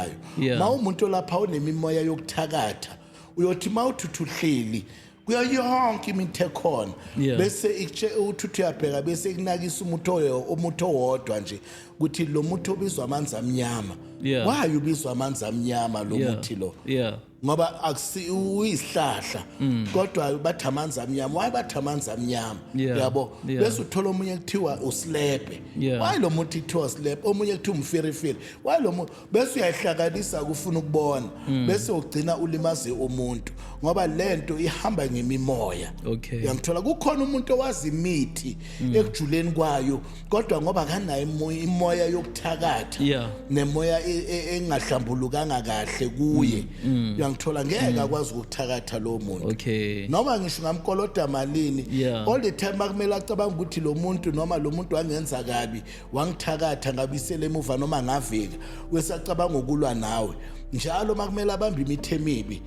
ayo Yeah. ma umuntu olapha unemimoya yokuthakatha uyothi ma uthuthu uhleli kuyo yonke imithi ekhona Yeah. bese ikutshela ukuthi uthi uyabheka bese ikunakisa umuthi oyo- umuthi owodwa nje ukuthi lo muthi obizwa amanzi amnyama Yeah. why ubizwa amanzi amnyama lo Yeah. muthi lo Yeah. ngoba akusi uyisihlahla mm. kodwa bathi amanzi amnyama why bathi amanzi amnyama yabo bese uthola omunye kuthiwa usilepe why lo muntu kuthiwa usilepe omunye kuthiwa umfirifiri why lo muntu bese uyayihlakanisa ukufuna ukubona mm. bese ugcina ulimaze umuntu ngoba lento ihamba ngemimoya okay uyangithola kukhona umuntu owazi imithi mm. ekujuleni kwayo kodwa ngoba kanayo imoya yokuthakatha yeah. nemoya e, e, engahlambulukanga kahle kuye mm, mm. uyangithola ngeke mm. akwazi ukuthakatha lo muntu okay. noma ngisho ngamkoloda malini yeah. all the time akumele acabanga ukuthi lo muntu noma lo muntu wangenza kabi wangithakatha ngabisele emuva noma ngavika wesacabanga ukulwa nawe njalo makumele abambe imithe emibi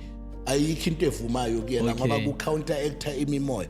ayikho into evumayo kuyena ngoba ku counter actor imimoya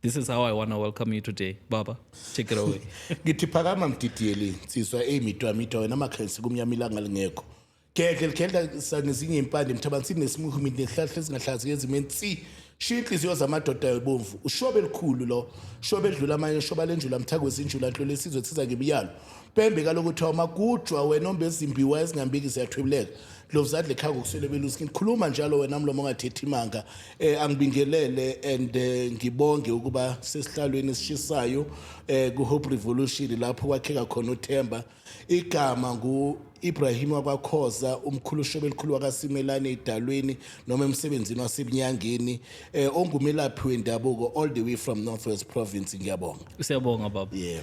This is how I want to welcome you today. Baba, take it away. ngithi phakama mdidiyeli nsizwa eyi mitwamita wena amakhensi kumnyama ilanga lingekho gedle ligedla sa- ngezinye impande mthabani sinesimukhu mina nesihlahla ezingahlazi ngezimo ensi shiya inhliziyo zamadoda yobomvu ushobe elikhulu lo shobe edlula amanye shoba lenjula mthako wezinjula nhlolo esizwe siza ngemiyalo Pembe kaloku kuthiwa magujwa wena ombe ezimbiwa ezingambiki ziyathwibuleka lovuzadle khaya ngokuswele beluskin khuluma njalo wena mlomo ongathethi imanga eh angibingelele and eh, ngibonge ukuba sesihlalweni esishisayo eh kuHope Revolution lapho kwakheka khona uThemba igama ngu Ibrahim wakwakhoza umkhulu shobelikhulu wakasimelane idalweni noma emsebenzini wasebunyangeni eh ongumelaphi wendabuko all the way from Northwest province ngiyabonga Siyabonga baba. Yeah.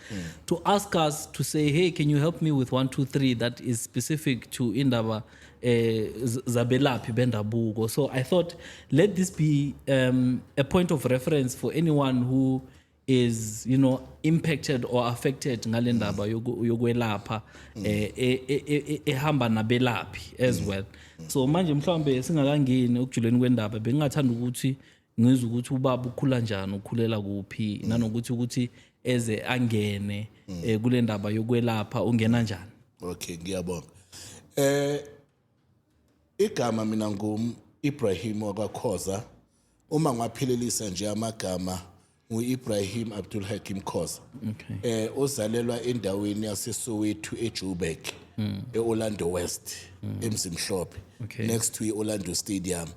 mm. to ask us to say hey can you help me with 123 that is specific to indaba eh, zabelaphi bendabuko so i thought let this be um, a point of reference for anyone who is you know impacted or affected ngale ndaba yokwelapha mm. eh, e, e, e, ehamba nabelaphi as mm. well so manje mhlawumbe singakangeni ukujuleni kwendaba bengingathanda ukuthi ngizwe ukuthi ubaba ukhula njani ukhulela kuphi mm. nanokuthi ukuthi eze angene mm. eh, kule ndaba yokwelapha ungena njani okay ngiyabonga eh igama mina ngum Ibrahim wakakhoza uma ngwaphelelisa nje amagama ngu-Ibrahim Abdul Hakim Khoza okay. eh ozalelwa endaweni yaseSoweto eJoburg mm. eOrlando West mm. eMzimhlophe okay. next to iOrlando Stadium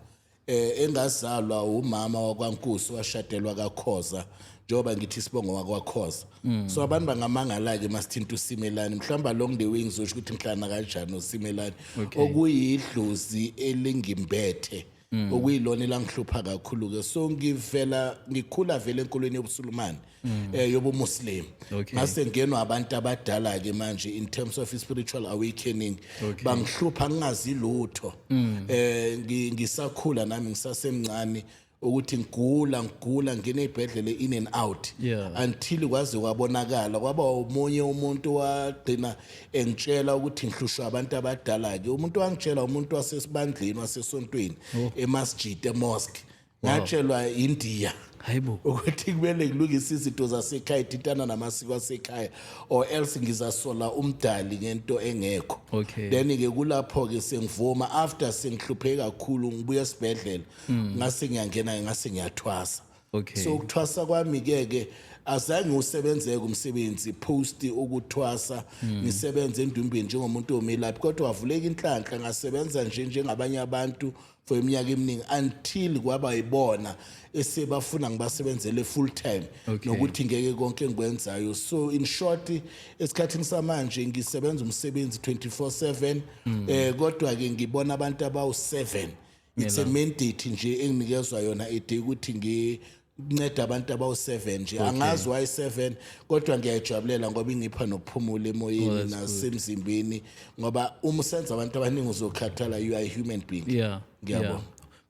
eh engazalwa umama wakwaNkusi washadelwa kaKhoza njengoba ngithi isibongo wakwakhoza mm. so abantu bangamangala-ke masithinta usimelani mhlawumbe along the way ngizosho ukuthi ngihlana kanjani usimelani okay. okuyidlozi elingimbethe mm. mm. okuyilona elangihlupha kakhulu ke so ngivela ngikhula vele enkolweni yobusulumane mm. eh yobumuslim okay. ngase ngenwa abantu abadala ke manje in terms of spiritual awakening okay. bangihlupha ngingazi lutho mm. eh ngisakhula nami ngisasemncane ukuthi ngigula ngigula ngine ibhedlele in and out yeah. until kwaze kwabonakala kwaba umunye umuntu wagcina engitshela ukuthi ngihlushwa abantu abadala ke umuntu wangitshela umuntu wasesibandleni wasesontweni oh. emasjid emosque ngatshelwa indiya hayibo ukuthi kumele ngilungise izinto zasekhaya ithintana namasiko asekhaya or else ngizasola umdali ngento engekho okay. then ke kulapho-ke sengivuma after sengihlupheke kakhulu ngibuye esibhedlela mm. ngase ngiyangena ngase ngiyathwasa Okay. so ukuthwasa kwami ke ke azange usebenzeke umsebenzi post ukuthwasa hmm. ngisebenze endumbeni njengomuntu omelaphi kodwa wavuleka inhlanhla ngasebenza nje njengabanye abantu for iminyaka eminingi until kwaba yibona esebafuna ngibasebenzele full time okay. nokuthi ngeke konke engikwenzayo so in short esikhathini samanje ngisebenza umsebenzi 24/7 mm. eh kodwa ke ngibona abantu abawu 7 it's a mandate nje enginikezwa yona ide ukuthi ngi nceda abantu abawu-7 nje angazi wayi-7 kodwa ngiyayijabulela ngoba ingipha nokuphumula emoyeni nasemzimbeni ngoba uma usenza abantu abaningi uzokhathala you are a human being yeah ngiyabona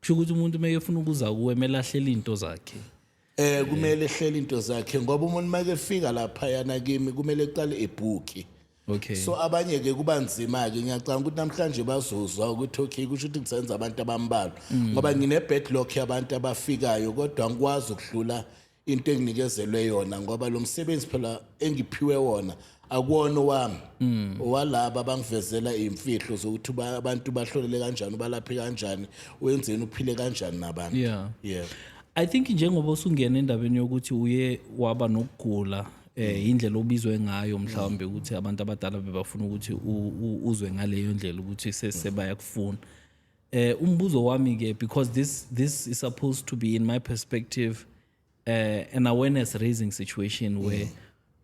kusho ukuthi umuntu uma efuna ukuza kuwe mele ahlele iy'nto zakhe Eh kumele ehlele into zakhe ngoba umuntu make efika lapha yana kimi kumele eqale ebhuki. Okay. So abanye ke kuba nzima ke ngiyacanga ukuthi namhlanje bazozwa ukuthi okay kusho ukuthi ngisenza abantu abambalwa mm. ngoba ngine backlog yabantu abafikayo kodwa ngikwazi ukudlula into enginikezelwe yona ngoba lo msebenzi phela engiphiwe wona akuwona owami mm. owalaba bangivezela imfihlo zokuthi abantu bahlolele kanjani ubalaphe kanjani wenzeni uphile kanjani nabantu yeah yeah i think njengoba usungena endabeni yokuthi uye waba nokugula eh indlela obizwe ngayo mhlawumbe ukuthi abantu abadala bebafuna ukuthi uzwe ngaleyo ndlela ukuthi sesebaya kufuna eh umbuzo wami ke because this this is supposed to be in my perspective uh, an awareness raising situation mm. where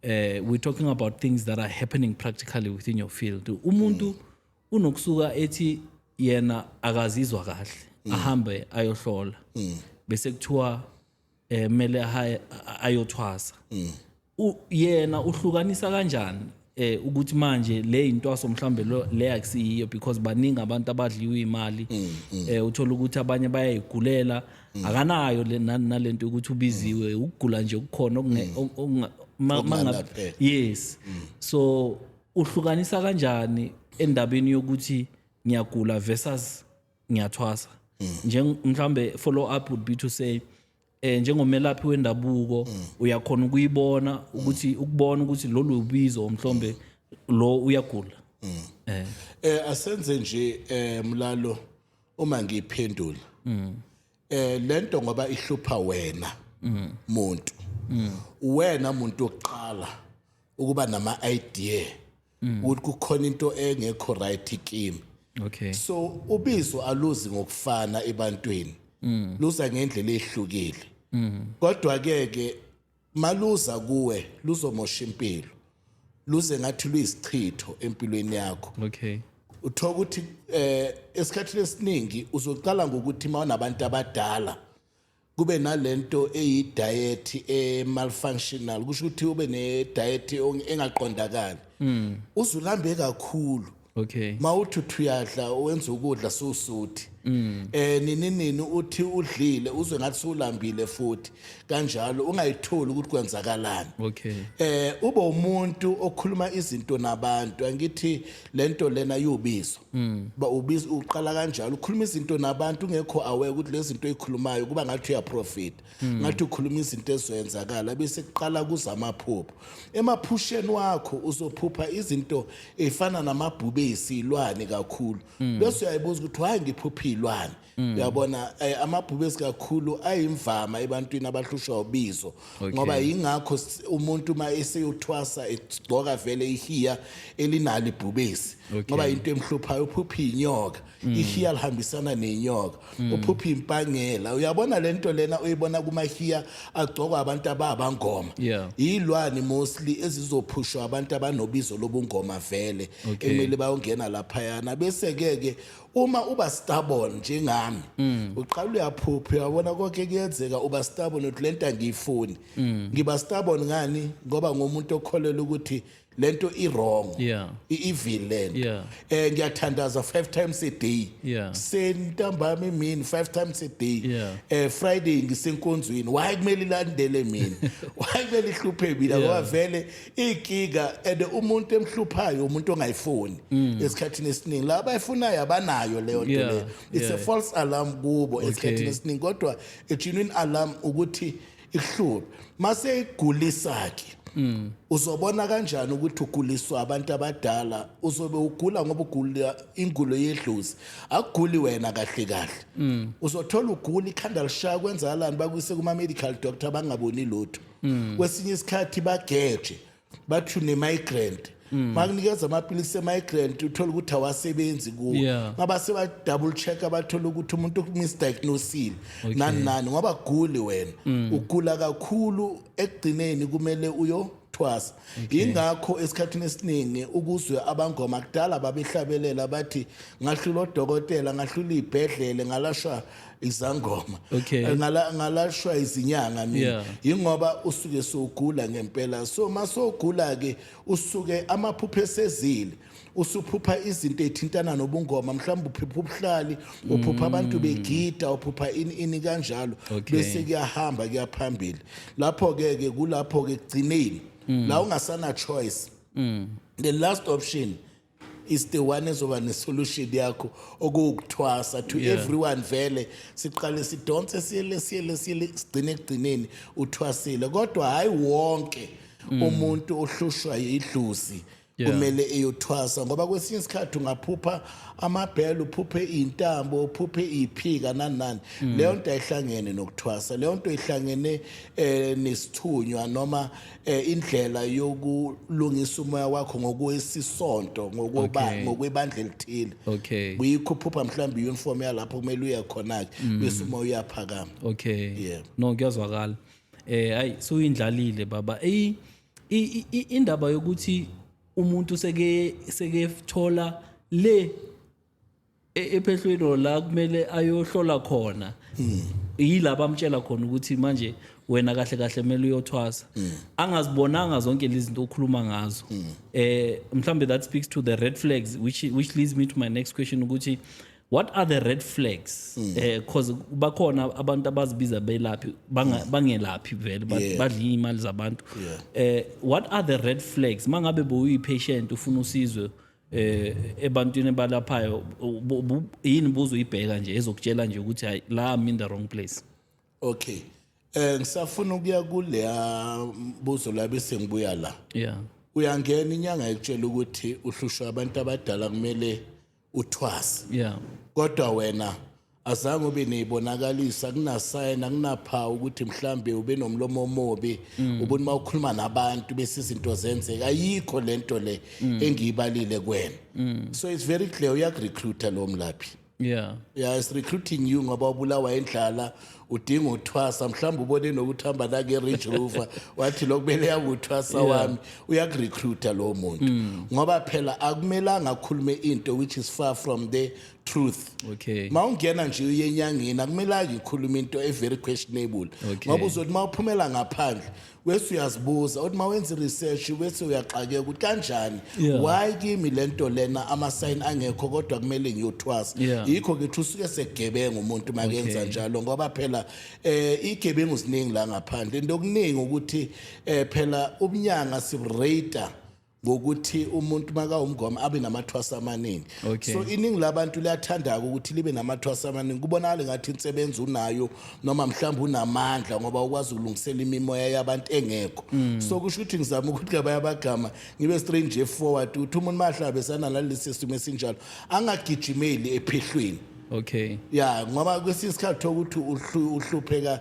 uh, we're talking about things that are happening practically within your field umuntu mm. unokusuka ethi yena akazizwa kahle mm. ahambe ayohlola mm. bese kuthiwa eh mele ayothwasa mm. yena uhlukanisa kanjani eh ukuthi manje le intwaso mhlambe le akusiyiyo because baningi abantu abadliwa imali mm, mm. eh uthola ukuthi abanye bayayigulela mm. akanayo le nalento ukuthi ubiziwe ukugula nje ukukhona okungabe eh. yes so uhlukanisa kanjani endabeni yokuthi ngiyagula versus ngiyathwasa nje mhlambe follow up would be to say eh njengomelaphi wendabuko mm. uyakhona ukuyibona ukuthi mm. ukubona ukuthi lolu ubizo mhlombe lo uyagula mm. eh eh asenze nje eh mlalo uma ngiphendula eh lento ngoba ihlupha wena muntu wena muntu oqala ukuba nama idea mm. ukuthi kukhona into engekho right kimi okay so ubizo aluzi ngokufana ebantwini mm. luza ngendlela ehlukile mm. kodwa ke ke maluza kuwe luzomosha impilo luze ngathi luyisichitho empilweni yakho okay uthoka ukuthi eh esikhathini esiningi uzoqala ngokuthi mawunabantu abadala kube nalento eyi diet e malfunctional kusho ukuthi ube ne diet engaqondakali mm. uzulambe kakhulu okay mawuthi uthuyadla wenza ukudla susuthi mm. eh nini nini uthi udlile uzwe ngathi sulambile futhi kanjalo ungayitholi ukuthi kwenzakalani okay eh ube umuntu okhuluma izinto nabantu angithi lento lena yubizo mm. ba ubizo uqala kanjalo ukhuluma izinto nabantu ungekho aware ukuthi lezinto ezikhulumayo kuba ngathi uya profit mm. ngathi ukhuluma izinto ezwenzakala bese kuqala kuza amaphupho emaphusheni wakho uzophupha izinto efana namabhubesi ilwane kakhulu mm. bese uyayibuza ukuthi why ngiphupha ilwane Mm. uyabona eh, amabhubesi kakhulu ayimvama ebantwini abahlushwa ubizo ngoba yingakho s- umuntu uma eseyothwasa egcoka vele ihiya elinalo ibhubesi ngoba into emhluphayo uphupha inyoka ihiya lihambisana nenyoka uphupha impangela uyabona le nto lena uyibona kumahiya agcokwa abantu ababangoma Yeah. yilwani mostly ezizophushwa abantu abanobizo lobungoma vele ekumele bayongena laphayana bese-ke ke uma uba stubborn njengami mm. uqala uyaphupha uyabona konke kuyenzeka uba stubborn uthi lento angiyifuni mm. ngiba stubborn ngani ngoba ngomuntu okholelwa ukuthi lento i wrong yeah. i evil lento yeah. eh ngiyathandaza 5 times a day yeah. sentambama imini 5 times a day yeah. eh friday ngisenkonzweni why kumele ilandele mina why kumele ihluphe mina ngoba yeah. vele igiga and umuntu emhluphayo umuntu ongayifuni mm. esikhathini esiningi la abayifunayo abanayo leyo nto yeah, leyo it's yeah. a false alarm kubo okay. esikhathini esiningi kodwa a genuine alarm ukuthi ihluphe mase igulisake mm. uzobona kanjani ukuthi uguliswa abantu abadala uzobe ugula ngoba ugula ingulo yedlozi akuguli wena kahle kahle mm. uzothola ugula ikhanda lishaya kwenzakalani bakuyise kuma medical doctor abangaboni lutho mm. kwesinye isikhathi bageje bathi une-migrant mm. makunikeza amapilisi e-migrant uthole ukuthi awasebenzi kuwo yeah. ngaba seba-double check abathole ukuthi umuntu umisdiagnosile okay. nani nani ngoba guli wena mm. ugula kakhulu ekugcineni kumele uyo thwasa yingakho esikhathini esiningi ukuzwe abangoma kudala babehlabelela bathi ngahlula odokotela ngahlula iy'bhedlele ngalashwa izangoma okay. Eh, ngala ngalashwa izinyanga mina yeah. ingoba usuke sogula ngempela so masogula ke usuke amaphupho esezile usuphupha izinto ethintana nobungoma mhlawumbe uphupha ubuhlali uphupha mm. abantu begida uphupha ini ini kanjalo bese kuyahamba kuyaphambili lapho ke ke kulapho ke kugcineni mm. la ungasana choice mm. the last option is the one ezoba nesolution yakho okuwukuthwasa to yeah. everyone vele siqale sidonse siyele siyele siyele sigcine ekugcineni uthwasile kodwa hayi wonke mm. umuntu ohlushwa yidluzi kumele eyothwasa ngoba kwesinye isikhathi ungaphupha amabhela uphuphe intambo uphuphe iphika nanani mm. leyo nto ayihlangene nokuthwasa leyo nto ihlangene eh nesithunywa noma eh indlela yokulungisa umoya wakho ngokwesisonto ngokuba Okay. ngokwebandla elithile Okay. kuyikhuphupa mhlawumbe uniform yalapho kumele uye khona ke Mm. bese uma uyaphakama Okay. Yeah. No kuyazwakala. Eh ayi suyindlalile baba. Ey i- i- i- indaba yokuthi umuntu seke sekethola le E- ephehlweni or la kumele ayohlola khona yilaba amtshela khona ukuthi manje wena kahle kahle kumele uyothwasa angazibonanga zonke lezi zinto okhuluma ngazo eh mhlambe that speaks to the red flags which which leads me to my next question ukuthi what are the red flags eh cause bakhona abantu abazibiza belaphi banga- bangelaphi vele ba- Yeah. badla imali zabantu Yeah. eh what are the red flags mangabe boyi patient ufuna usizwe eh ebantwini balaphayo yini buzo uyibheka nje ezokutshela nje ukuthi hayi la I'm in the wrong place okay eh ngisafuna ukuya kuleya buzo labe sengibuya la yeah uyangena inyanga ekutshela ukuthi uhlushwa abantu abadala kumele uthwase yeah kodwa wena azange ube niyibonakalisa kunasayina kunaphawu ukuthi mhlambe ube nomlomo omobi mm. ubona uma ukhuluma nabantu bese izinto zenzeka ayikho lento le mm. engiyibalile kwena mm. so it's very clear uyakurecruiter lo mlaphi yeah yeah is recruiting you ngoba ubulawa endlala udinga uthwasa mhlawumbe ubone nokuthamba la ke Range Rover wathi lokubele yakuthwasa wami uyakurecruiter lo muntu mm. ngoba phela akumelanga akhulume into which is far from the truth okay mawungena nje uyenyangeni akumelanga ikhuluma into e very questionable Okay. ngoba uzothi mawuphumela ngaphandle wese uyazibuza uthi mawenza research wese uyaxakeka ukuthi kanjani Yeah. why kimi lento lena ama sign angekho kodwa kumele ngiyothwasa Yeah. yikho ke usuke segebenga umuntu makenza Okay. njalo ngoba phela eh igebengu ziningi la ngaphandle into okuningi ukuthi eh phela ubunyanga sirate ngokuthi umuntu makawumngoma abe namathwasa amaningi okay. so iningi labantu liyathandaka ukuthi libe namathwasa amaningi kubonakala ngathi insebenzi unayo noma mhlawumbe unamandla ngoba ukwazi ukulungisela imimoya yabantu engekho mm. so kusho ukuthi ngizama ukuthi kabaya abagama ngibe straight nje forward ukuthi umuntu mahlabe sanalesi simo esinjalo angagijimeli ephehlweni okay ya ngoba kwesinye isikhathi ukuthi uhlupheka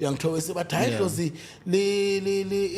uyangithobisa bathi hayi idlozi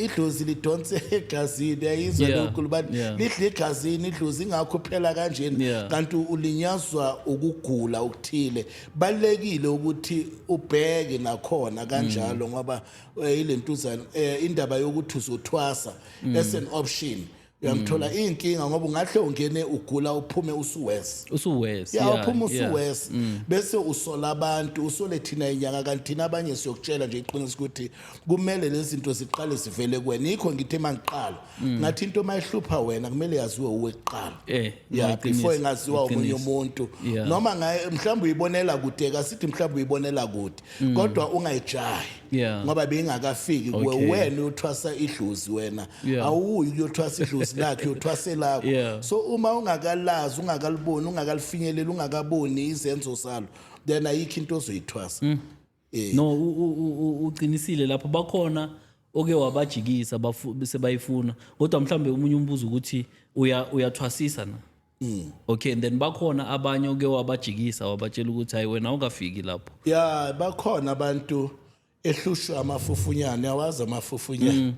idlozi lidonse egazini yayizwa lokhu libathi lidla egazini idlozi ingakho phela kanjeni kanti ulinyazwa ukugula okuthile balekile ukuthi ubheke nakhona kanjalo mm. ngoba eh, ilentuzana eh, indaba yokuthi uzothwasa mm. as an option uyamthola mm. iyinkinga ngoba ungahle ungene ugula uphume usuwes usuwes ya uphume usuwes mm. bese usola abantu usole thina inyanga kanti thina abanye siyokutshela nje iqiniso ukuthi kumele lezi zinto ziqale zivele kuwena yikho ngithe mangiqala mm. ngathi into mayihlupha wena kumele yaziwe uwe kuqala eh, ya before ingaziwa omunye umuntu noma mhlawumbe uyibonela kude kasithi mhlawumbe uyibonela kude kodwa ungayijahi Yeah. ngoba bengakafiki kuwe Okay. wena uyothwasa idlozi wena Yeah. awuyi kuyothwasa idlozi lakhe uyothwasa elakho Yeah. so uma ungakalazi ungakaliboni ungakalifinyeleli ungakaboni izenzo salo then ayikho into ozoyithwasa Mm. Eh, no u- u- u- u- uqinisile lapho bakhona oke wabajikisa bafu- sebayifuna kodwa mhlawumbe omunye umbuzo ukuthi uya- uyathwasisa na Mm. okay and then bakhona abanye oke wabajikisa wabatshela ukuthi hayi wena awukafiki lapho ya bakhona abantu ehlushwa amafufunyane awazi amafufunyane mm.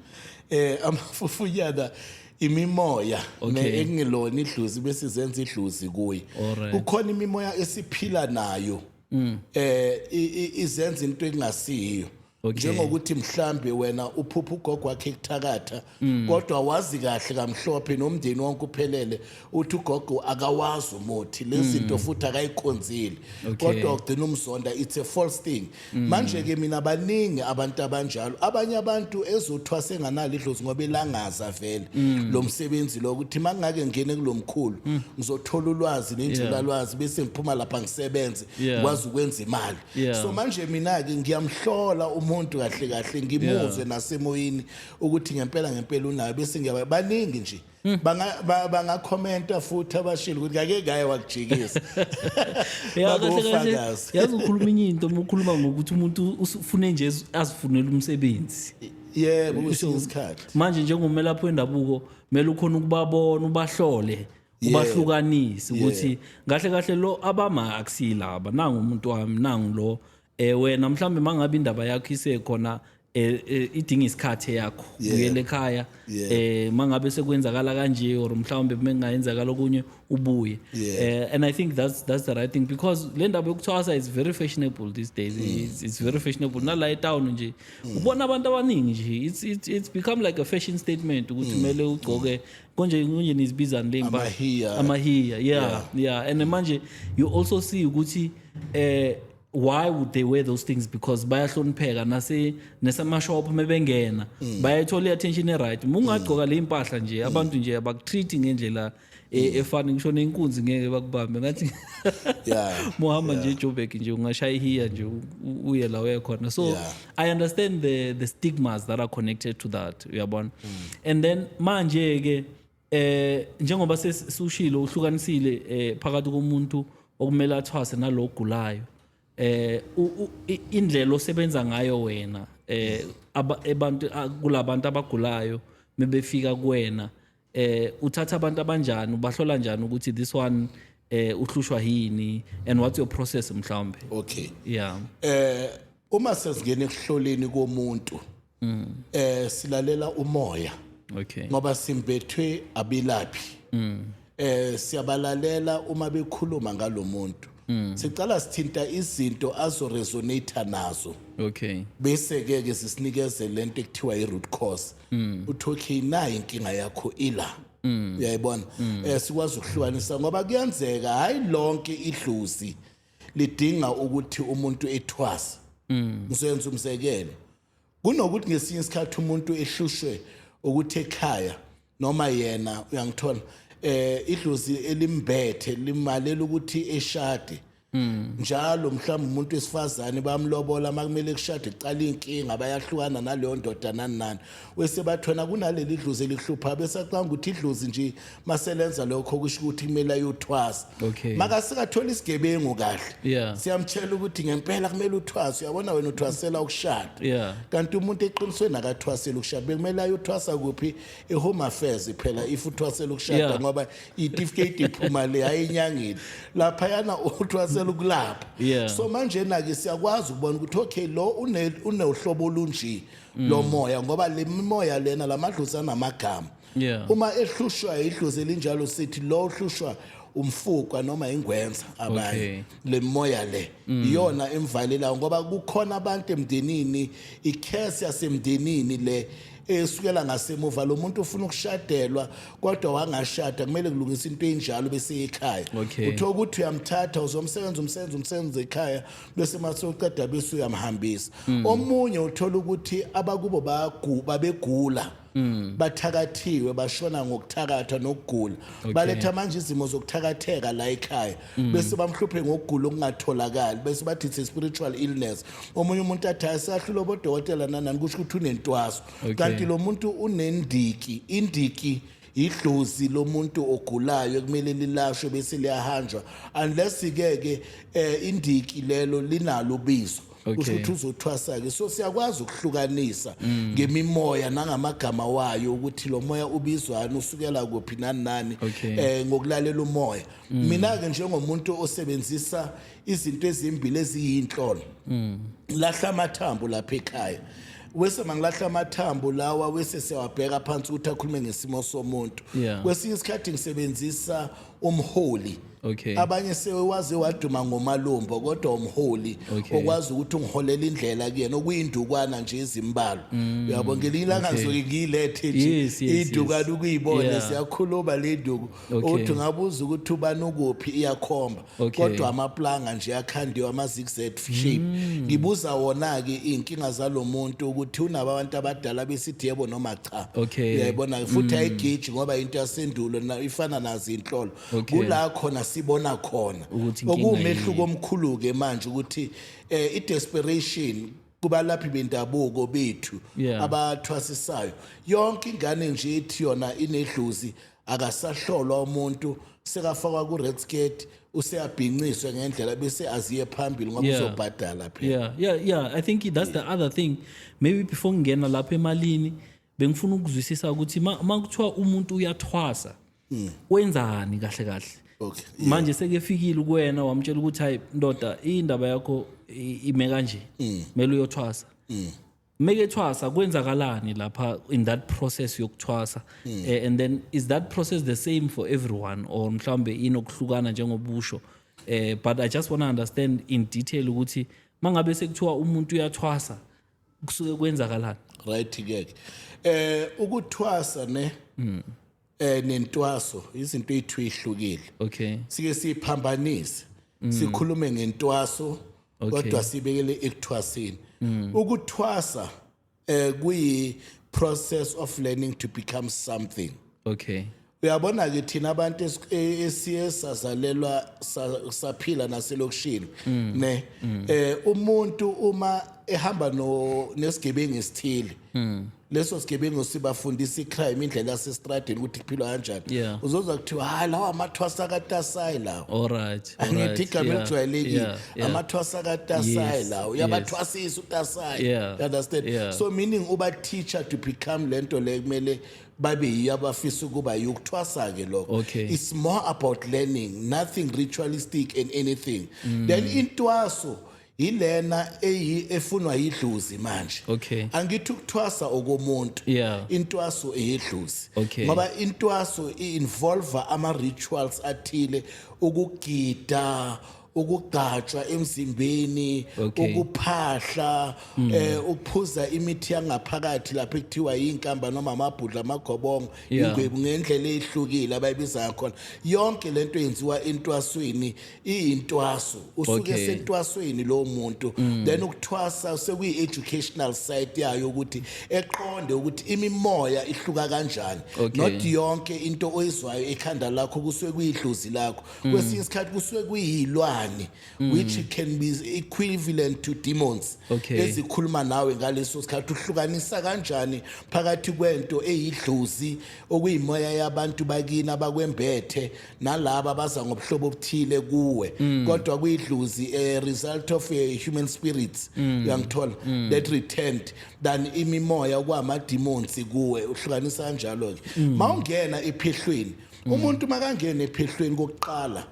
eh amafufunyana imimoya Okay. engelona idluzi bese zenza idluzi kuye Alright. kukhona imimoya esiphila nayo mm. eh i- i- izenza into engasiyo Okay. njengokuthi mhlambe wena uphupha ugogo wakhe kuthakatha mm. kodwa wazi kahle kamhlophe nomndeni wonke uphelele uthi ugogo akawazi umuthi lezinto mm. futhi akayikhonzile okay. kodwa ugcina umzonda it's a false thing mm. manje ke mina baningi abantu abanjalo abanye abantu ezothiwa senganalo idlozi ngoba elangaza vele mm. lo msebenzi lo ukuthi mangake ngene kulomkhulu mm. ngizothola ulwazi nenjulalwazi yeah. bese ngiphuma lapha ngisebenze yeah. kwazi ukwenza imali Yeah. so manje mina ke ngiyamhlola umuntu kahle kahle ngimuzwe nasemoyeni ukuthi ngempela ngempela unayo bese ngiyaba baningi nje Hmm. Banga- ba- bangakhomenta futhi abashilo ukuthi ngake ngaye wakujikisa Ya, kahle kahle babofakazi yazi ukhuluma enye into uma ukhuluma ngokuthi umuntu ufune nje az- azifunele umsebenzi yebo kwesinye isikhathi manje njengomelaphi wendabuko kumele ukhona ukubabona ubahlole ubahlukanise ukuthi kahle kahle lo abama akusilaba nangu umuntu wami nangu lo eh wena mhlambe mangabe indaba yakho isekhona eh, eh, idinga isikhathi yakho Yeah. uyele ekhaya Yeah. eh mangabe sekwenzakala kanje or mhlawumbe mengayenzakala okunye ubuye Yeah. eh, and i think that's that's the right thing because le ndaba yokuthwasa is very fashionable these days Mm. it's, it's very fashionable nala etown nje ubona abantu abaningi nje it's, it's, it's become like a fashion statement ukuthi Mm. kumele ugcoke konje konje nizibizani le mbali Amahiya. amahiya yeah yeah and manje you also see ukuthi eh why would they wear those things because bayahlonipheka nase nesamashop mebengena bayayithola i-attention e-right uma ungagqoka le impahla nje abantu nje abakutreat ngendlela e- efani ngisho nenkunzi ngeke bakubambe ngathi Yeah. muhamba nje ejobek nje ungashaya ihiya nje u- u- uye la uye khona so Yeah. i understand the, the stigmas that are connected to that uyabona mm. and then manje ke eh njengoba sesisushilo uhlukanisile eh phakathi komuntu okumele athwase nalogulayo eh indlela osebenza ngayo wena eh abantu kulabantu abagulayo mebefika kuwena eh uthatha abantu abanjani ubahlola njani ukuthi this one eh uhlushwa yini and what's your process mhlawumbe okay yeah eh uma sesingena ekuhloleni komuntu mm. eh silalela umoya okay ngoba simbethwe abilaphi mm. eh siyabalalela uma bekhuluma ngalomuntu mm. sicala sithinta izinto azo resonate nazo okay bese ke ke sisinikeze lento ekuthiwa i root cause mm. uthi okay nayi inkinga yakho ila mm. uyayibona mm. eh sikwazi ukuhlukanisa ngoba kuyenzeka hayi lonke idluzi lidinga ukuthi umuntu ethwase mm. ngizoyenza umzekelo kunokuthi ngesinye isikhathi umuntu ehlushwe ukuthi ekhaya noma yena uyangithola eh idlozi elimbethe limalela ukuthi eshade Mm. njalo mhlawumbe umuntu wesifazane bamlobola makumele kushade kuqala inkinga bayahlukana naleyo ndoda nani nani wese bathona kunaleli dlozi elihlupha besacanga ukuthi idlozi nje maselenza lokho kusho ukuthi kumele ayothwasa Okay. makasikathola isigebengu kahle Yeah. siyamtshela ukuthi ngempela kumele uthwase uyabona wena uthwasela ukushada Yeah. kanti umuntu eqinisweni akathwaseli ukushada bekumele ayothwasa kuphi i-home affairs phela if uthwasela ukushada Yeah. ngoba itifiketi iphuma le hayi enyangeni laphayana uthwasela ukulapha Yeah. so manjena-ke siyakwazi ukubona ukuthi okay lo une- unohlobo olunje lomoya ngoba le mimoya lena la madlozi anamagama Yeah. uma ehlushwa yidlozi elinjalo sithi lo uhlushwa umfukwa noma ingwenza Okay. Mm. abanye le mimoya le iyona emvalelayo ngoba kukhona abantu emndenini ikhesi yasemndenini le esukela ngasemuva lo muntu ufuna ukushadelwa kodwa wangashada kumele kulungisa into enjalo bese ekhaya Okay. uthola ukuthi uyamthatha uzomsebenza umsebenza umsebenza ekhaya bese mase uqeda bese uyamhambisa Mm. omunye uthola ukuthi abakubo bayagu- babegula Mm. bathakathiwe bashona ngokuthakatha nokugula baletha manje izimo zokuthakatheka la ekhaya mm. bese bamhluphe ngokugula okungatholakali bese bathi it's a spiritual illness omunye umuntu athi asahlula bodokotela nanani kusho ukuthi unentwaso okay. kanti lo muntu unendiki indiki idlozi lomuntu ogulayo kumele lilashwe bese liyahanjwa unless ke ke eh, indiki lelo linalo bizo kusho ukuthi uzothwasa-ke so siyakwazi ukuhlukanisa mm. ngemimoya nangamagama wayo ukuthi lo moya ubizwani usukela kuphi nani nani um ngokulalela umoya mm. mina ke njengomuntu osebenzisa izinto ezimbili eziyinhlolo mm. lahla amathambo lapha ekhaya wese mangilahla amathambo lawa wese siyawabheka phansi ukuthi akhulume ngesimo somuntu yeah. kwesinye isikhathi ngisebenzisa umholi okay. abanye sewaze waduma ngomalumbo kodwa umholi okay. okwazi ukuthi ungiholela indlela kuyena okuyindukwana nje izimbalo mm. uyabo ngelinye ilanga okay. ngizoke ngiyilethe nje yes, yes, idukana yes. ukuyibona yeah. siyakhuluma le nduku Okay. uthi ngabuza ukuthi ubani ukuphi iyakhomba Okay. kodwa amaplanga nje akhandiwe ama-zigzag shape Mm. ngibuza wona-ke iy'nkinga zalo muntu ukuthi unabo abantu abadala besithi yebo noma cha Okay. Mm. uyayibona-ke futhi ayigiji ngoba into yasendulo na- ifana nazo iy'nhlolo Okay. kula khona sibona khona Ukuthi inkinga okuwumehluko omkhulu-ke manje ukuthi um i-desperation kubalaphi bendabuko bethu Yeah. abathwasisayo yonke ingane nje ethi yona inedlozi akasahlolwa umuntu sekafakwa ku-red skirt useyabhinciswe ngendlela bese aziye phambili ngoba Yeah. uzobhadala phela Yeah, yeah, yeah. I think that's the other thing. Maybe before ngena lapha emalini bengifuna ukuzwisisa ukuthi uma kuthiwa umuntu uyathwasa hmm. wenzani kahle kahle okay yeah. manje sekefikile kuwena wamtshela ukuthi hayi ndoda indaba yakho ime kanje mm. mele uyothwasa mm. make ethwasa kwenzakalani lapha in that process yokuthwasa mm. uh, and then is that process the same for everyone or mhlambe inokuhlukana njengobusho uh, but i just want to understand in detail ukuthi mangabe sekuthiwa umuntu uyathwasa kusuke kwenzakalani right ke eh ukuthwasa ne mm. eh nentwaso izinto ethu ihlukile okay sike siphambanise mm. sikhulume ngentwaso kodwa sibekele ekuthwasini mm. ukuthwasa eh kuyi process of learning to become something okay uyabona ke thina abantu e, esiye sazalelwa saphila naselokishini mm. ne mm. eh umuntu uma ehamba no nesigebengu esithile mm. leso sigebengu sibafundisa icrime indlela yasestradini ukuthi kuphilwa kanjani uzozwa kuthiwa hayi lawa amathwasa katasayi lawo alright angithi igama elijwayelekile amathwasa katasayi lawo uyabathwasisa utasayi understand so meaning uba teacher to become lento le kumele babe yiyo abafisa ukuba yiyo ukuthwasa-ke lokho Okay. it's more about learning nothing ritualistic and anything Mm. then intwaso yilena eyi efunwa yidlozi manje Okay. angithi ukuthwasa okomuntu Yeah. intwaso eyedlozi Okay. ngoba intwaso i-involva ama-rituals athile ukugida ukugajwa emzimbeni Okay. Mm. ukuphahla eh ukuphuza imithi yangaphakathi lapha ekuthiwa yinkamba noma amabhudla amagobongo Yeah. ingwebu ngendlela ezihlukile abayibiza ngakhona yonke lento yenziwa entwasweni iyintwaso usuke Okay. Mm. sentwasweni lo muntu then ukuthwasa sekuyi educational side yayo ukuthi eqonde ukuthi imimoya ihluka kanjani Okay. not yonke into oyizwayo ekhanda lakho kusuke kuyidlozi lakho mm. kwesinye isikhathi kusuke kuyilwane mm. which can be equivalent to demons okay. ezikhuluma nawe ngaleso sikhathi uhlukanisa kanjani phakathi kwento eyidlozi okuyimoya yabantu bakini abakwembethe nalabo abaza ngobuhlobo obuthile kuwe mm. kodwa kuyidlozi a result of a human spirits mm. uyangithola mm. that returned than imimoya okwama demons kuwe uhlukanisa kanjalo ke mm. mawungena ephehlweni mm. umuntu makangena ephehlweni kokuqala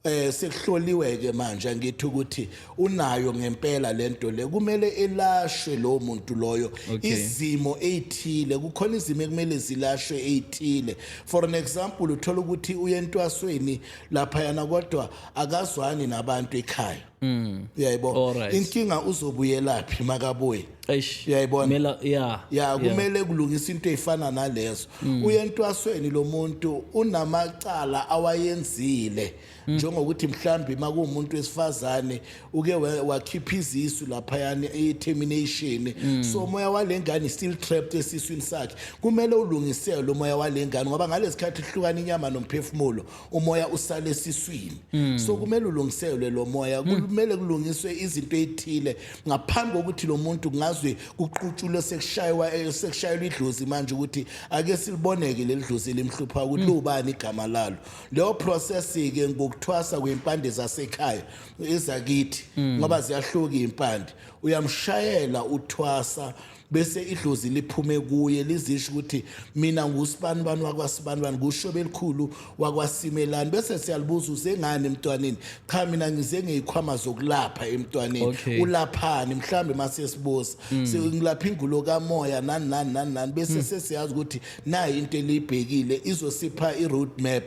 eh sekuhloliwe ke manje angithi ukuthi unayo ngempela lento le kumele elashwe lo muntu loyo izimo ezithile kukhona izimo ekumele zilashwe ezithile for an example uthola ukuthi uyentwasweni lapha yana kodwa akazwani nabantu ekhaya Mm. Uyayibona. Alright. Inkinga uzobuyelaphi makabuye. Eish. Uyayibona? Mela yeah. Ya kumele kulungisa into efana nalezo. Uyentwasweni lo muntu unamacala awayenzile njengokuthi mhlambi makumuntu wesifazane uke wa- wakhipha izisu lapha yani i-termination. So moya walengane is still trapped esiswini sakhe. Kumele ulungisele lo moya walengane ngoba ngalesikhathi ihlukana inyama nomphefumulo umoya usale esiswini mm. so kumele ulungiselwe lo moya hmm. kumele kulungiswe izinto ezithile ngaphambi kokuthi lo muntu ngazwe kuqutshulwe sekushaywa eh, sekushayelwa idlozi manje ukuthi ake siliboneke leli dlozi limhlupha ukuthi hmm. lubani igama lalo leyo process ke ngokuthwasa kwempande zasekhaya izakithi hmm. ngoba ziyahluka impande uyamshayela uthwasa bese idlozi liphume kuye lizisho ukuthi mina ngusibanibani wakwasibanibani kusho belikhulu wakwasimelani bese siyalibuza usengani emntwaneni cha mina ngize ngeyikhwama zokulapha emntwaneni okay. ulaphani mhlambe mase sibuza mm. sengilapha ingulo kamoya nani nani nani nani bese mm. sesiyazi ukuthi nayi into eliyibhekile izosipha i-road map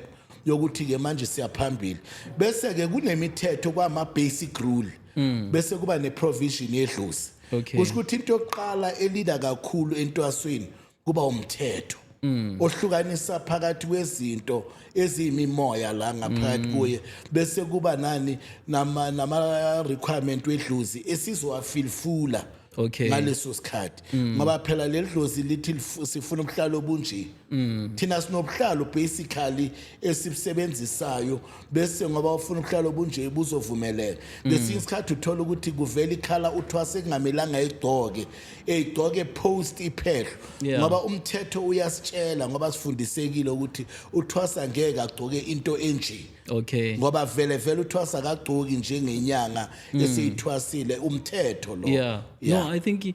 yokuthi ke manje siyaphambili bese ke kunemithetho kwama basic rule mm. bese kuba ne provision yedlozi Okay. Kusho ukuthi into yokuqala elida kakhulu entwasweni kuba umthetho. Mm. ohlukanisa phakathi kwezinto eziyimimoya la ngaphakathi mm. kuye bese kuba nani nama nama requirement wedluzi esizowafilfula okay ngaleso sikhathi mm. ngoba phela ledlozi lithi sifuna ubuhlalo obunje Mm. thina sinobuhlalo basically esibusebenzisayo bese ngoba ufuna ubuhlalo obunje buzovumeleka mm. ngesinye isikhathi uthola ukuthi kuvela ikhala uthwase ekungamelanga igcoke eyigcoke post iphehlo yeah. ngoba umthetho uyasitshela ngoba sifundisekile ukuthi uthwasa ngeke agcoke into enje okay ngoba vele vele uthwasa akagcoki njengenyanga mm. esiyithwasile umthetho lo yeah. yeah no i think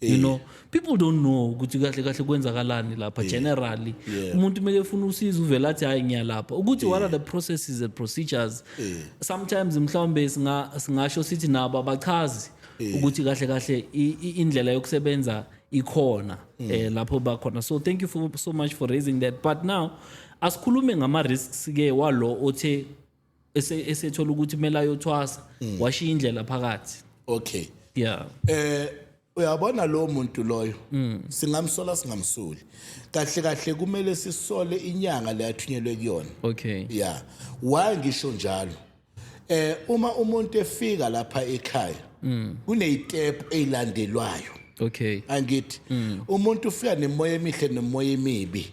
you Yeah. know people don't know ukuthi kahle kahle kwenzakalani lapha generally Yeah. umuntu kumele efuna usizo uvele athi hayi ngiyalapha ukuthi what are the processes and procedures sometimes mhlawumbe singa singasho sithi nabo abachazi ukuthi kahle kahle i- i- indlela yokusebenza ikhona eh lapho bakhona so thank you for, so much for raising that but now asikhulume ngama risks ke walo othe ese- esethola ukuthi kumele ayothwasa Mm. washiya indlela phakathi okay yeah eh uyabona lo muntu loyo Mm. singamsola singamsoli kahle kahle kumele sisole inyanga le athunyelwe kuyona okay ya why ngisho njalo eh uma umuntu efika lapha ekhaya Mm. kunezitep ezilandelwayo okay angithi umuntu ufika nemoya emihle nemoya emibi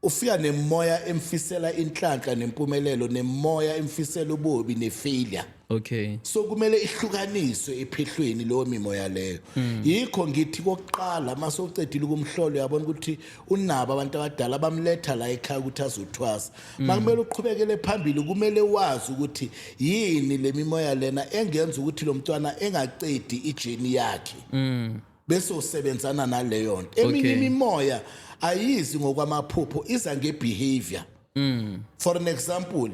Ufika nemoya emfisela inhlanhla nempumelelo nemoya emfisela ububi nefailure. Okay. So kumele ihlukaniswe ephehlweni leyo mimoya leyo. Hmm. Yikho ngithi kokuqala mase ucedile ukumhlola uyabona ukuthi unabo abantu abadala bamletha la ekhaya ukuthi azothwasa. Hmm. Makumele uqhubekele phambili kumele wazi ukuthi yini lemimoya lena engenza ukuthi lo mntwana engacedi ijeni yakhe. Mm. bese usebenzana naleyo nto eminye Okay. imimoya ayizi ngokwamaphupho iza ngebehavior Mm. for an example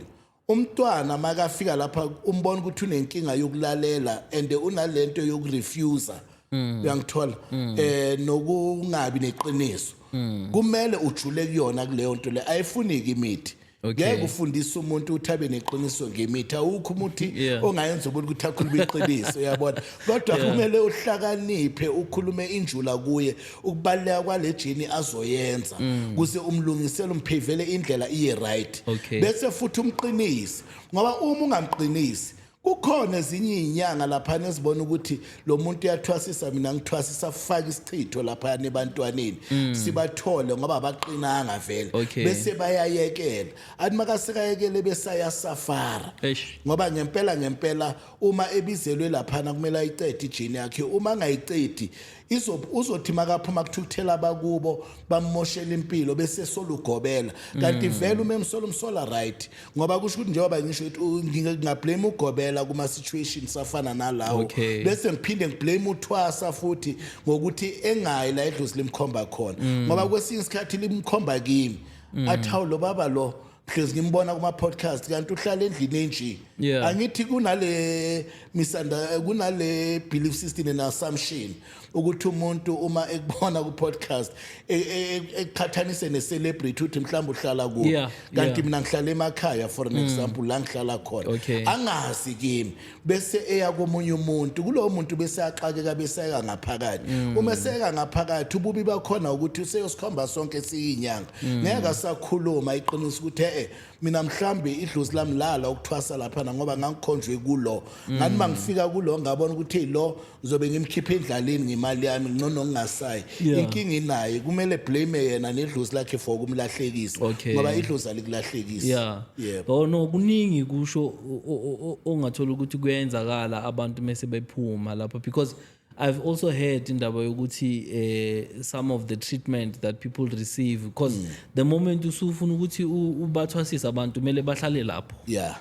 umntwana makafika lapha umbona ukuthi unenkinga yokulalela and unalento yokurefuser Mm. uyangithola eh nokungabi neqiniso Mm. kumele ujule kuyona kuleyo nto le ayifuniki imithi Okay. ngeke ufundise umuntu ukuthi abe neqiniso ngemithi awukho umuthi Yeah. ongayenza umuntu ukuthi akhulume iqiniso uyabona kodwa Yeah. kumele uhlakaniphe ukhulume injula kuye ukubaluleka kwale jini azoyenza kuze umlungisele umphevele indlela iye right Mm. Okay. bese futhi umqinise ngoba uma ungamqinisi kukhona ezinye izinyanga lapha nezibona ukuthi lo muntu uyathwasisa mina ngithwasisa faka isichitho lapha nebantwaneni mm. sibathole ngoba abaqinanga vele okay. bese bayayekela athi makasekayekele besaya safara ngoba ngempela ngempela uma ebizelwe lapha kumele ayicede ijini yakhe uma ngayicedi izob uzothi makaphuma kuthukuthela abakubo bamoshela impilo bese solugobela kanti mm. vele uma emsola umsola right ngoba kusho ukuthi njengoba ngisho ukuthi ngingablame ugobela kuma situation safana nalawo okay. bese ngiphinde ngiblame uthwasa futhi ngokuthi engayi la edlozi limkhomba khona mm. ngoba kwesinye isikhathi limkhomba kimi mm. athawu lo baba lo because ngimbona kuma podcast kanti uhlala endlini enje Yeah. angithi kunale misanda kunale belief system and assumption ukuthi umuntu uma ekubona ku podcast e- e- e- eqhathanise ne celebrity uthi mhlawumbe uhlala kuyo Yeah, kanti yeah. Mm. mina ngihlala emakhaya for an example la ngihlala khona Okay. angazi kimi bese eya komunye umuntu kulowo muntu bese axakeka beseka ngaphakathi mm. uma eseka ngaphakathi ububi bakhona ukuthi useyosikhomba sonke siyinyanga mm. ngeke asakhuluma iqiniso ukuthi eh mina mhlambi idlozi lami lala ukuthwasa lapha ngoba ngangikhonjwe kulo mm. ngani mangifika kulo ngabona ukuthi lo ngizobe ngimkhipha endlaleni ngemali yami ngcono ngingasayi Yeah. inkinga inaye kumele blame yena nedlozi lakhe for ukumlahlekisa Okay. ngoba idlozi alikulahlekisi yeah yebo oh no kuningi kusho o- o- o- o- ongathola ukuthi kuyenzakala abantu mese bephuma lapha because i've also heard indaba yokuthi eh some of the treatment that people receive because the moment usufuna ukuthi u- ubathwasise abantu kumele bahlale lapho yeah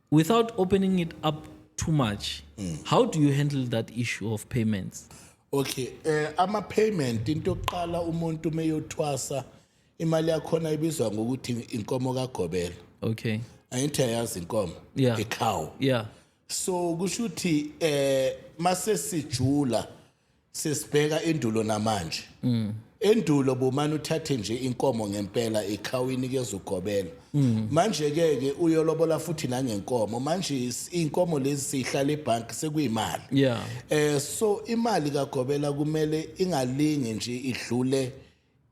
without opening it up too much mm. how do you handle that issue of payments okay eh ama payment into yokuqala umuntu meyothwasa imali yakhona ibizwa ngokuthi inkomo kagobela okay ayinthi ayazi inkomo yeah. icow yeah so kusho ukuthi eh mase sijula sesibheka endulo namanje mm. endulo bomani uthathe nje inkomo ngempela ikhawini kezugobela mm. manje ke ke uyolobola futhi nangenkomo manje inkomo lezi sihlala ebank sekuyimali yeah. eh so imali kagobela kumele ingalingi nje idlule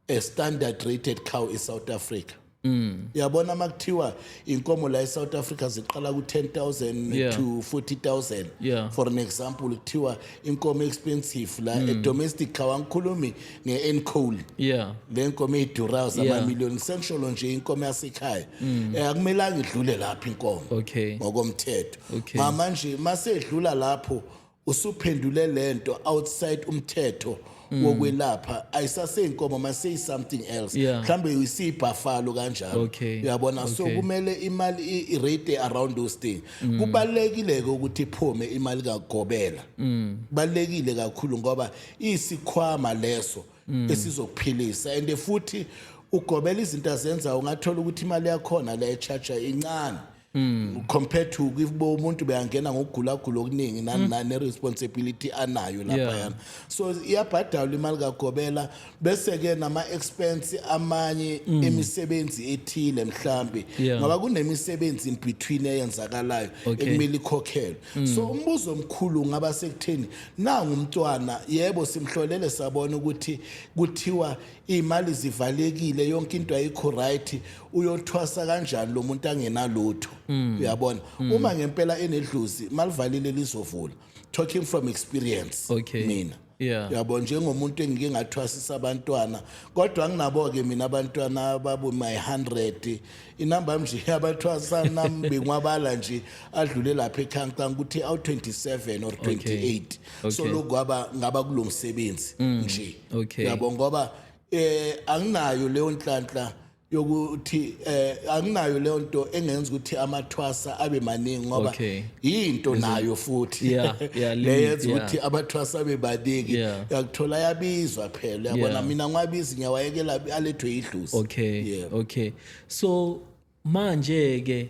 a standard rated cow in South Africa Mm. Yabona makuthiwa inkomo la eSouth Africa ziqala ku 10000 yeah. to 40000 yeah. for an example kuthiwa inkomo expensive la mm. e domestic cow angikhulumi nge Encol yeah le nkomo idura ama yeah. million sengisholo nje inkomo yasekhaya mm. eh akumelanga idlule lapha inkomo okay ngokomthetho okay. mama nje masedlula lapho usuphendule lento outside umthetho mm. wokwelapha ayisaseyinkomo maseyi something else yeah. mhlambe uyisibhafalo kanjalo okay. uyabona okay. so kumele imali irate around those thing mm. kubalekile ke ukuthi iphume imali kagobela mm. balekile kakhulu ngoba isikhwama leso mm. esizokuphilisa and futhi ugobela izinto azenzayo ungathola ukuthi imali yakhona le charger incane Mm. compared to if bo umuntu beyangena ngokugulagula okuningi nani mm. nani responsibility anayo lapha Yeah. yana so iyabhadalwa imali kagobela bese ke nama expense amanye emisebenzi ethile mhlambi Mm. Yeah. ngoba kunemisebenzi in between eyenzakalayo Okay. Mm. ekumele ikhokhelwe so umbuzo omkhulu ngaba sekutheni nangu umntwana yebo simhlolele sabona ukuthi kuthiwa iy'mali zivalekile yonke into ayikho right uyothwasa kanjani lo muntu angenalutho mm. uyabona mm. uma ngempela enedluzi malivalile lizovula talking from experience okay. mina yeah. yabo njengomuntu engike ngathwasisa abantwana kodwa nginabo-ke mina abantwana ababu my 100 inamba yam nje abathwasanam benwabala nje adlule lapha echancang ukuthi awu-27 or 28 okay. okay. so lokhu ngaba ngaba kulo msebenzi mm. nje okay. yabo ngoba eh anginayo leyo nhlanhla yokuthi eh anginayo leyo nto engenza ukuthi amathwasa abe maningi ngoba okay. yinto nayo futhi Yeah, yeah, limit, leyenza yeah. ukuthi abathwasa bebaningi Yeah. yakuthola yabizwa phela yabona Yeah. mina ngiwabizi ngiyawayekela alethwe yidlusi okay Yeah. okay so manje ke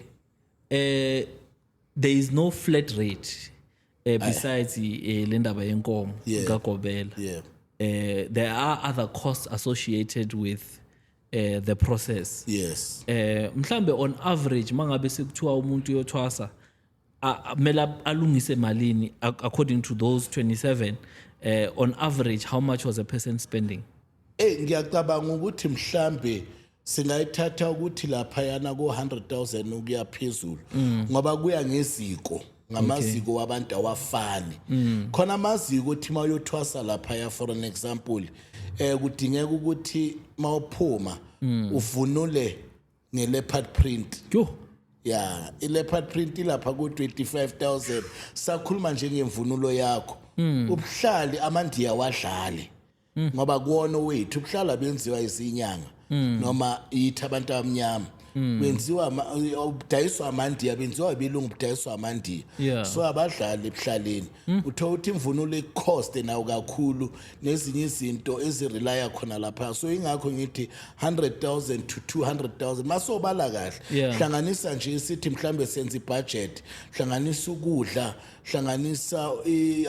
eh there is no flat rate eh, besides eh, le ndaba yenkomo Yeah. kagobela yeah eh there are other costs associated with eh the process yes eh mhlambe on average mangabe sekuthiwa umuntu uyothwasa mela alungise malini according to those 27 eh on average how much was a person spending eh ngiyacabanga ukuthi mhlambe singayithatha ukuthi lapha yana ko 100000 ukuyaphezulu mm. ngoba kuya ngeziko ngamaziko wabantu awafani mm. khona amaziko ukuthi uma uyothwasa lapha ya for an example eh kudingeka ukuthi mawuphuma mm. uvunule ngeleopard print yho ya ileopard print ilapha ku 25000 sakhuluma nje ngemvunulo yakho mm. ubuhlali amandiya wadlali mm. ngoba kuwona wethu ubuhlala benziwa izinyanga mm. noma yithi abantu abamnyama mm. benziwa ubudayiswa amandiya benziwa ibelungu ubudayiswa amandiya yeah. so abadlali ebuhlaleni mm. uthola ukuthi imvunulo ikucoste nawo kakhulu nezinye izinto ezirelaya khona lapha so ingakho ngithi 100000 to 200000 masobala kahle yeah. hlanganisa nje sithi mhlambe senza ibudget hlanganisa ukudla hlanganisa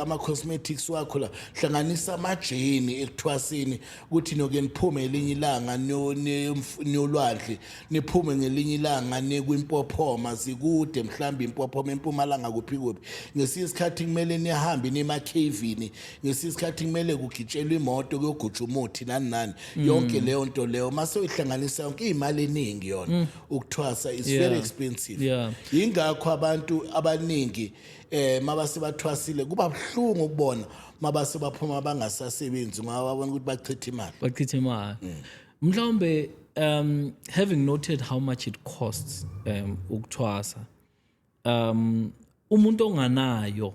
ama-cosmetics wakho la hlanganisa amajeni ekuthwasini ukuthi noke niphume elinye ilanga niyolwandle niphume ngelinye ilanga nikwimpophoma zikude mhlawumbe impophoma empumalanga kuphi kuphi ngesinye isikhathi kumele nihambe nimakhavini ngesinye isikhathi kumele kugitshelwe imoto kuyogutsha umuthi nani nani mm. yonke leyo nto leyo uma sewuyihlanganisa yonke iy'mali eningi yona mm. ukuthwasa is yeah. very expensive yeah. yingakho abantu abaningi eh mabase bathwasile kuba buhlungu ukubona mabase baphuma bangasasebenzi ngoba babona ukuthi bachitha imali bachitha imali mm. mhlawumbe um having noted how much it costs um ukuthwasa um umuntu onganayo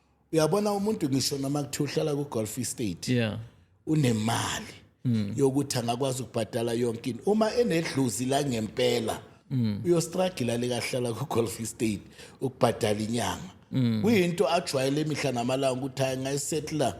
uyabona umuntu ngisho noma kuthiwa uhlala ku-golf estate yeah unemali mm. yokuthi angakwazi ukubhadala yonke into uma enedluzi la ngempela mm. uyostragila lekahlala ku-golf estate ukubhadala inyanga mm. kuyinto ajwayele imihla namalanga ukuthi hayi ngayisetla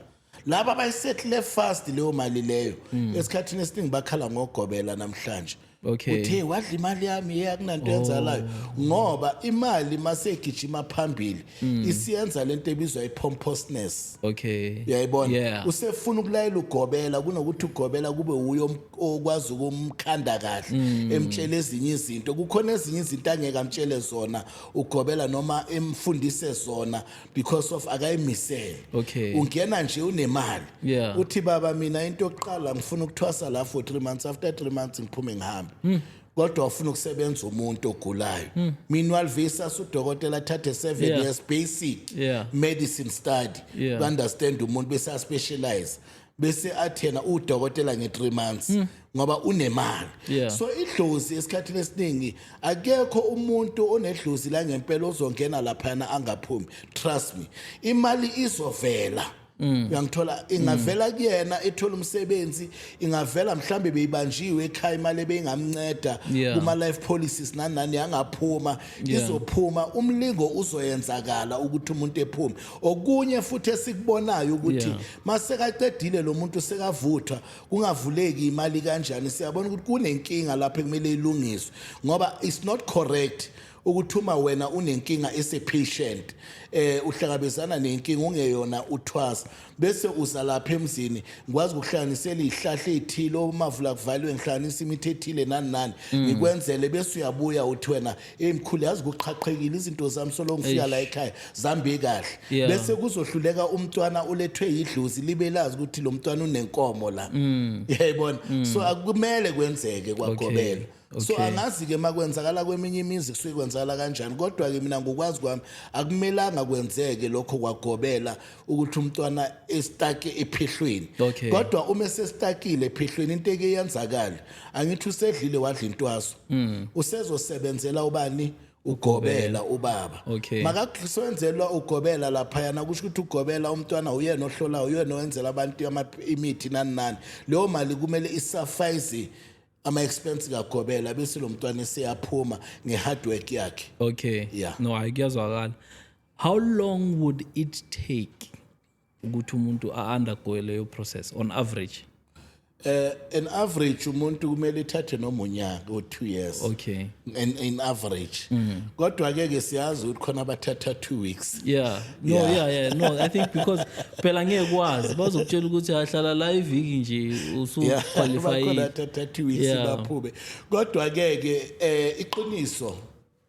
laba abayisettle fast leyo mali leyo hmm. esikhathini esiningi bakhala ngogobela namhlanje okay uthe wadla imali yami ye akunanto oh. yenzalayo ngoba imali masegijima phambili hmm. isiyenza lento ebizwa ipompousness okay uyayibona usefuna ukulayela ugobela kunokuthi ugobela kube uyo okwazi ukumkhanda kahle hmm. emtshela ezinye izinto kukhona ezinye izinto angeke amtshele zona ugobela noma emfundise zona because of akayimisele Okay. ungena nje unemali Yeah. uthi baba mina into yokuqala ngifuna ukuthwasa la for 3 months after 3 months ngiphume ngihambe Hmm. kodwa ufuna ukusebenza umuntu ogulayo meanwhile visa sudokotela athathe 7 Yeah. years basic Yeah. medicine study Yeah. to understand umuntu bese aspecialize bese athena udokotela nge-3 months hmm. ngoba unemali yeah. so idlozi esikhathini esiningi akekho umuntu onedlozi la ngempela ozongena laphana angaphumi trust me imali izovela Mm. uyangithola ingavela mm. kuyena ethola umsebenzi ingavela mhlambe beyibanjiwe ekhaya imali ebeyingamnceda kuma life policies nanani yangaphuma izophuma umlingo uzoyenzakala ukuthi umuntu ephume okunye futhi esikubonayo ukuthi masekaqedile lo muntu sekavuthwa kungavuleki imali kanjani siyabona ukuthi kunenkinga lapho ekumele ilungiswe ngoba it's not correct ukuthi uma wena unenkinga esepatient eh uhlangabezana nenkinga ungeyona uthwasa bese uza lapha emzini ngikwazi ukuhlanganisela izihlahla ezithile omavula kuvalwe ngihlanganisa imithi ethile nani nani mm. ngikwenzele bese uyabuya uthi wena Hey mkhulu yazi kuqhaqhekile izinto zami solo ngifika la ekhaya zambe kahle Yeah. bese kuzohluleka umntwana ulethwe yidlozi libe lazi ukuthi lo mntwana unenkomo la Mm. yayibona so akumele kwenzeke kwagobela so Okay. angazi ke makwenzakala kweminye imizi kusuke kwenzakala kanjani kodwa ke mina ngokwazi kwami akumelanga kwenzeke lokho kwagobela ukuthi umntwana esitake ephehlweni Okay. kodwa uma esesitakile ephehlweni into eke yenzakala angithi usedlile wadla intwaso Mm. usezosebenzela ubani ugobela ubaba Okay. makakusenzelwa ugobela laphayana kusho ukuthi ugobela umntwana uyena ohlolayo uyena owenzela abantu ama- imithi nani nani leyo mali kumele isafayize ama-expense kagobela bese lo mntwana eseyaphuma nge-hard work yakhe okay Yeah. no hayi kuyazwakala how long would it take ukuthi umuntu a-undergoe leyo process on average Uh, an average umuntu kumele ithathe noma unyaka or two years okay in, in average mm. kodwa ke ke siyazi ukuthi khona abathatha two weeks yeah no yeah yeah, yeah. no i think because phela ngeke kwazi bazokutshela ukuthi ahlala la iviki nje usu yeah. qualify khona thatha two weeks yeah. baphume kodwa ke ke eh iqiniso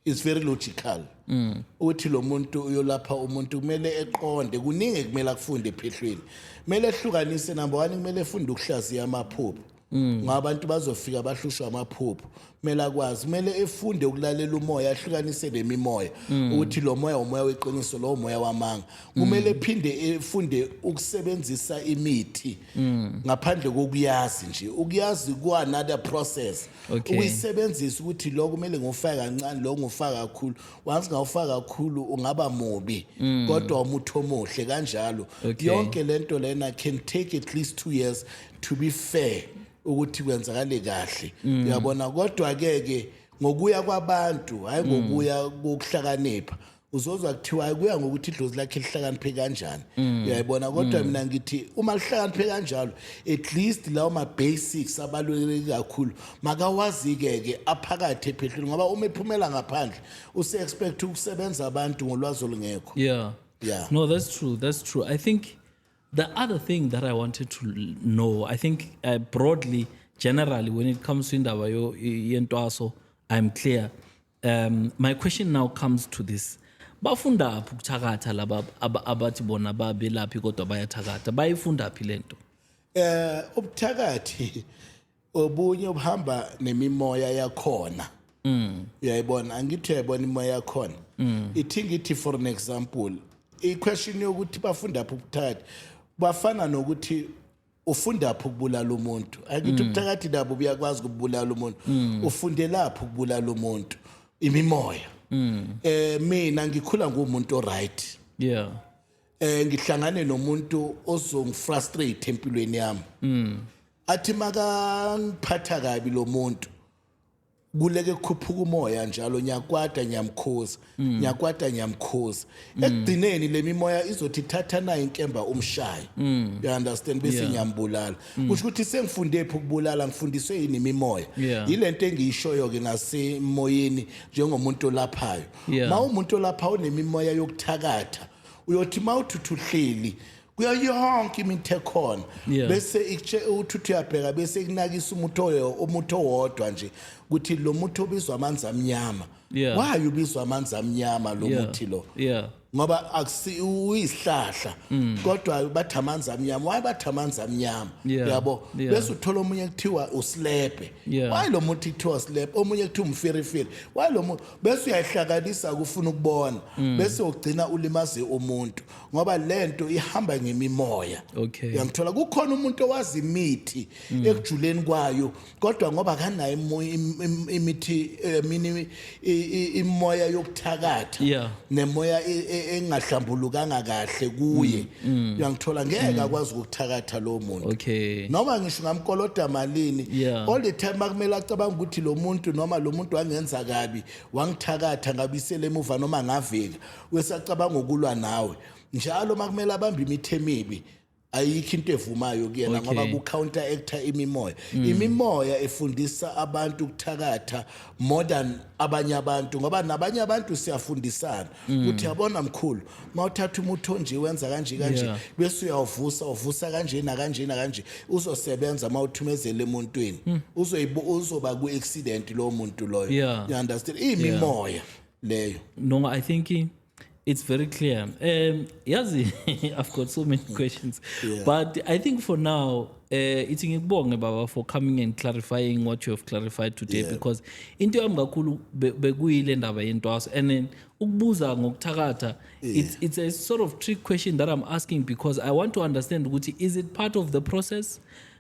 is very logical mm. uthi lo muntu uyolapha umuntu kumele eqonde kuningi kumele akufunde ephehlweni kumele ehlukanise number 1 kumele efunde ukuhlaziya amaphupho mm. ngoba abantu bazofika bahlushwa amaphupho kumele akwazi kumele efunde ukulalela umoya ahlukanise nemimoya mm. ukuthi lo moya umoya weqiniso lo moya wamanga kumele ephinde efunde ukusebenzisa imithi Mm. ngaphandle kokuyazi nje ukuyazi ku another process okay. uyisebenzisa ukuthi lokho kumele ngofaka kancane lokho ngofaka kakhulu once ngawufaka kakhulu ungaba mubi mm. kodwa umuthi omuhle kanjalo okay. yonke lento lena can take at least 2 years to be fair ukuthi kwenzakale kahle mm. uyabona mm. kodwa ke ke ngokuya kwabantu hayi mm. ngokuya kokuhlakanipha mm. uzozwa kuthiwa kuya ngokuthi idlozi lakhe lihlakaniphe kanjani mm. uyayibona kodwa mm. mina ngithi uma lihlakaniphe kanjalo at least lawo ma-basics abaluleke kakhulu makawazike-ke aphakathi ephehlweni ngoba uma ephumela ngaphandle use-expect ukusebenza abantu ngolwazi olungekho yeah. yeah. no that's true that's true i think the other thing that i wanted to know i think uh, broadly generally when it comes to indaba yentwaso i'm clear Um, my question now comes to this bafunda phi ukuthakatha laba abathi bona babelaphi kodwa bayathakatha bayifunda phi lento eh ubuthakathi obunye obuhamba nemimoya yakhona mm uyayibona angithi uyayibona imoya yakhona mm ithi ngithi for an example i question yokuthi bafunda phi ubuthakathi bafana nokuthi ufundaphi ukubulala umuntu angithi mm. ubuthakathi nabo buyakwazi ukubulala umuntu mm. ufundelaphi ukubulala umuntu imimoya mm. eh mina ngikhula ngumuntu oright yeah eh ngihlangane nomuntu ozongifrustrate empilweni yami athi makangiphatha kabi lo muntu kuleke kukhuphuka umoya njalo nyakwata nyamkhosi mm. nyakwata nyamkhosi mm. ekugcineni lemimoya izothi thatha nayo inkemba umshaye mm. you understand bese ngiyambulala kusho ukuthi sengifunde phi ukubulala ngifundiswe yini imimoya yilento engiyishoyo ke ngasemoyeni njengomuntu olaphayo mawumuntu olapha unemimoya yokuthakatha uyothi mawuthuthuhleli kuyo yonke imithi ekhona Yeah. bese ikutshela ukuthi uthi uyabheka bese kunakisa umuthi oyo- umuthi owodwa nje ukuthi lo muthi obizwa amanzi amnyama Yeah. why ubizwa amanzi amnyama lo Yeah. muthi lo Yeah. ngoba akusi uyisihlahla kodwa bathi amanzi amnyama why bathi amanzi amnyama Mm. Yeah. yabo Yeah. bese uthola omunye kuthiwa usilebhe Yeah. why lo muthi kuthiwa usilebhe omunye kuthiwa umfirifiri why lo mu- bese uyayihlakanisa kufuna ukubona Mm. bese ugcina ulimaze umuntu ngoba lento ihamba ngemimoya okay uyangithola kukhona umuntu owazi imithi mm. ekujuleni kwayo kodwa ngoba kanayo imithi eh, mini imoya yokuthakatha yeah. nemoya e, e, engahlambulukanga kahle kuye mm. mm. uyangithola ngeke mm. akwazi ukuthakatha lo muntu okay noma ngisho ngamkoloda malini yeah. all the time akumele acabanga ukuthi lo muntu noma lo muntu wangenza kabi wangithakatha ngabisele emuva noma ngavika wesacabanga ukulwa nawe njalo makumele abambe imithe emibi ayikho into evumayo kuyena Okay. ngoba ku-counter actor imimoya imimoya efundisa abantu ukuthakatha more than abanye abantu ngoba nabanye abantu siyafundisana ukuthi yabona mkhulu uma uthatha umuthi onje wenza kanje kanje Yeah. bese uyawuvusa uvusa kanje nakanje nakanje uzosebenza uma uthumezele emuntwini Uzoyibo- uzoba ku-accident lowo muntu loyo Yeah. you understand iyimimoya leyo no i think it's very clear um yazi i've got so many questions yeah. but i think for now uh, ithi ngikubonge baba for coming and clarifying what you have clarified today yeah. because into yami kakhulu bekuyile ndaba yentwaso and then ukubuza ngokuthakatha yeah. it's, it's a sort of trick question that i'm asking because i want to understand ukuthi is it part of the process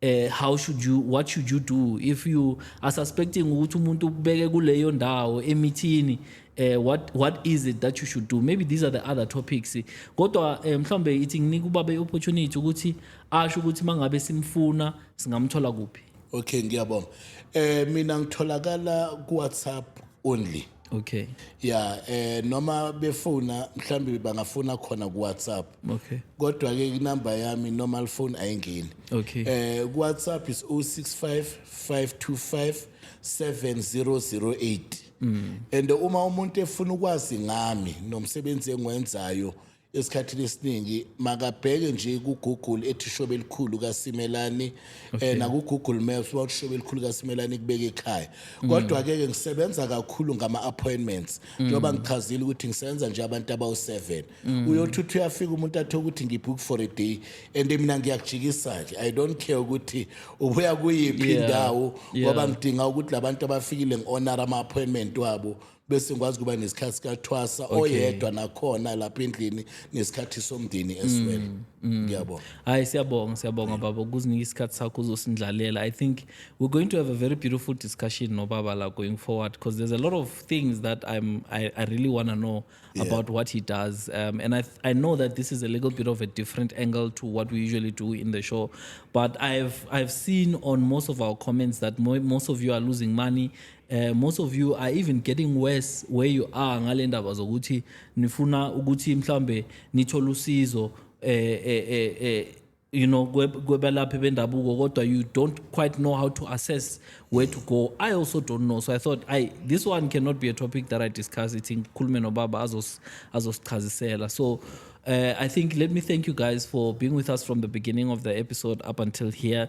eh how should you what should you do if you are suspecting ukuthi umuntu ukubeke kuleyo ndawo emithini eh what what is it that you should do maybe these are the other topics kodwa eh, mhlambe ithi nginika ubaba iopportunity ukuthi asho ukuthi mangabe simfuna singamthola kuphi okay ngiyabonga eh mina ngitholakala ku WhatsApp only okay ya eh noma befuna mhlawumbe bangafuna khona ku WhatsApp okay kodwa ke inamba yami normal phone ayingeni okay eh ku WhatsApp is 065 525 7008 mm. and uma umuntu efuna ukwazi ngami nomsebenzi engiwenzayo esikhathini esiningi makabheke nje ku-google ethi ishobe elikhulu kasimelani okay. eh, naku-google maps uba ushobe elikhulu kasimelani kubeka ekhaya mm. kodwa-ke ke ngisebenza kakhulu ngama-appointments mm. njengoba mm. ngichazile ukuthi ngisebenza nje abantu abawu-seven mm. uyothi uthi uyafika umuntu athe ukuthi ngibook for a day and mina ngiyakujikisa-ke i don't care ukuthi ubuya kuyiphi yeah. indawo ngoba yeah. ngidinga ukuthi labantu abafikile ngi-honor ama-appointment wabo bese ngikwazi kuba nesikhathi sikathwasa oyedwa nakhona lapha endlini nesikhathi somndeni as mm, well mm. ngiyabonga hayi siyabonga siyabonga baba ukuzinika isikhathi sakho uzosindlalela i think we're going to have a very beautiful discussion nobaba la going forward because there's a lot of things that i'm i, I really want to know yeah. about what he does um, and I, I know that this is a little bit of a different angle to what we usually do in the show but i've i've seen on most of our comments that mo most of you are losing money Uh, most of you are even getting worse where you are ngale ndaba zokuthi nifuna ukuthi mhlambe nithole usizo eh eh eh, eh you know kwebelaphi bendabuko kodwa you don't quite know how to assess where to go i also don't know so i thought i this one cannot be a topic that i discuss ithi ngikhulume nobaba azosichazisela so uh, I think let me thank you guys for being with us from the beginning of the episode up until here.